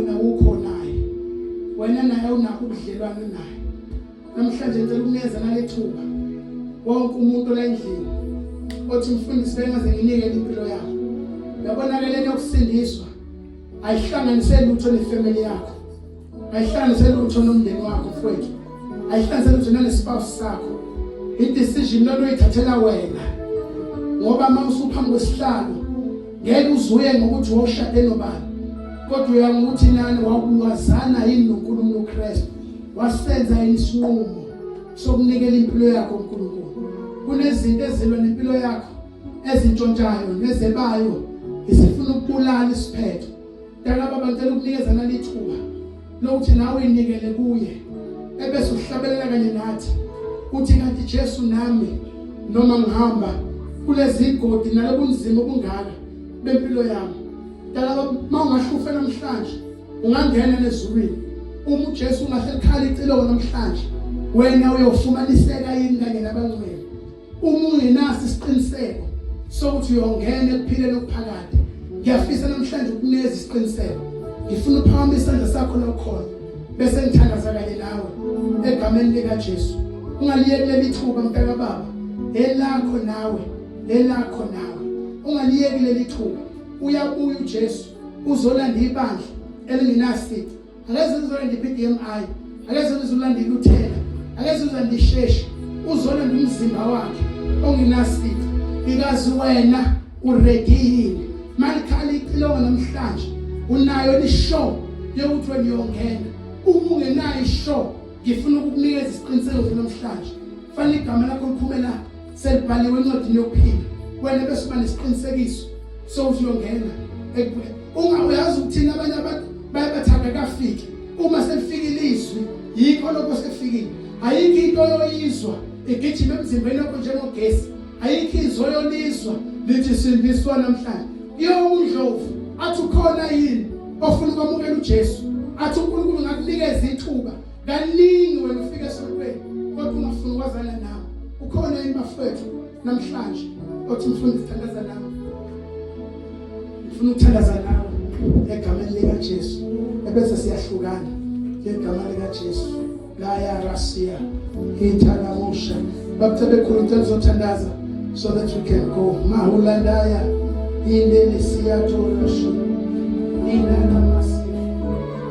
Nawukho naye. Wena naye unakho ubudlelwane naye. Namhlanje ngicela ukunikeza nalethuba. Wonke umuntu olendlini othi mfundisi bengaze nginike impilo yakho. Yabona ke lento yokusindiswa ayihlanganise lutho nefamily yakho. Ayihlanganise lutho nomndeni wakho mfowethu. ayihlanzele nje nalesibawusi sakho idecision lento oyithathela wena ngoba uma usuphambi kwesihlalo ngeke uzuye ngokuthi wawushade nobani kodwa uya ngokuthi nani wakulwazana yini noNkulunkulu uKristu wasenza yini isinqumo sokunikela impilo yakho uNkulunkulu kunezinto ezilwa nempilo yakho ezintshontshayo nezebayo isifuna ukubulala isiphetho Mntana baba ngicela ukunikeza nali thuba lokuthi nawe inikele kuye ebese uhlabelela kanye nathi uthi kanti Jesu nami noma ngihamba kulezi godi nalobunzima obungaka bempilo yami dala uma ungahlufe namhlanje ungangena nezulwini uma uJesu ungaselikhala iciloko namhlanje wena uyofumaniseka yini kanye nabangcwele uma ungenaso isiqiniseko sokuthi uyongena ekuphileni okuphakade ngiyafisa namhlanje ukuneza isiqiniseko ngifuna uphakama isandla sakho lokhona bese ngithandaza kanye nawe egameni likaJesu ungaliyeki leli thuba mntaka baba elakho nawe elakho nawe ungaliyeki leli thuba uyabuya uJesu uzolanda ibandla elingenasici angeze ngizolanda i-PDMI angeze ngizolanda iluthela angeze ngizolanda isheshi uzolanda umzimba wakhe ongenasifo ikazi wena uredi yini malikhala icilongo namhlanje unayo lishow yokuthi wena uyongena uma ungenayo ishow ngifuna ukukunikeza isiqiniseko namhlanje fanele igama lakho liphumela selibhaliwe encwadini yokuphila wena bese uba nesiqinisekiso sokuthi uyongena ungayazi ukuthina abanye abantu baye bathanda kafike uma selifikile izwi yikho lokho sekufikile ayikho into yoyizwa igijima emzimbeni wakho njengogesi ayikho izwi oyolizwa lithi sindiswa namhlanje iyowundlovu athi ukhona yini ofuna ukwamukela uJesu athi uNkulunkulu ngakunikeza ithuba kaningi wena ufika esontweni kodwa ungafuni ukwazana nawo ukhona yini bafethu namhlanje othi ngifuna ukuthandaza nawe ngifuna ukuthandaza nawe egameni likaJesu ebese siyahlukana ngegama likaJesu la ya rasia ithala musha baphethe bekhulu ngicela uzothandaza so that we can go mahulandaya indele siyathola shu indala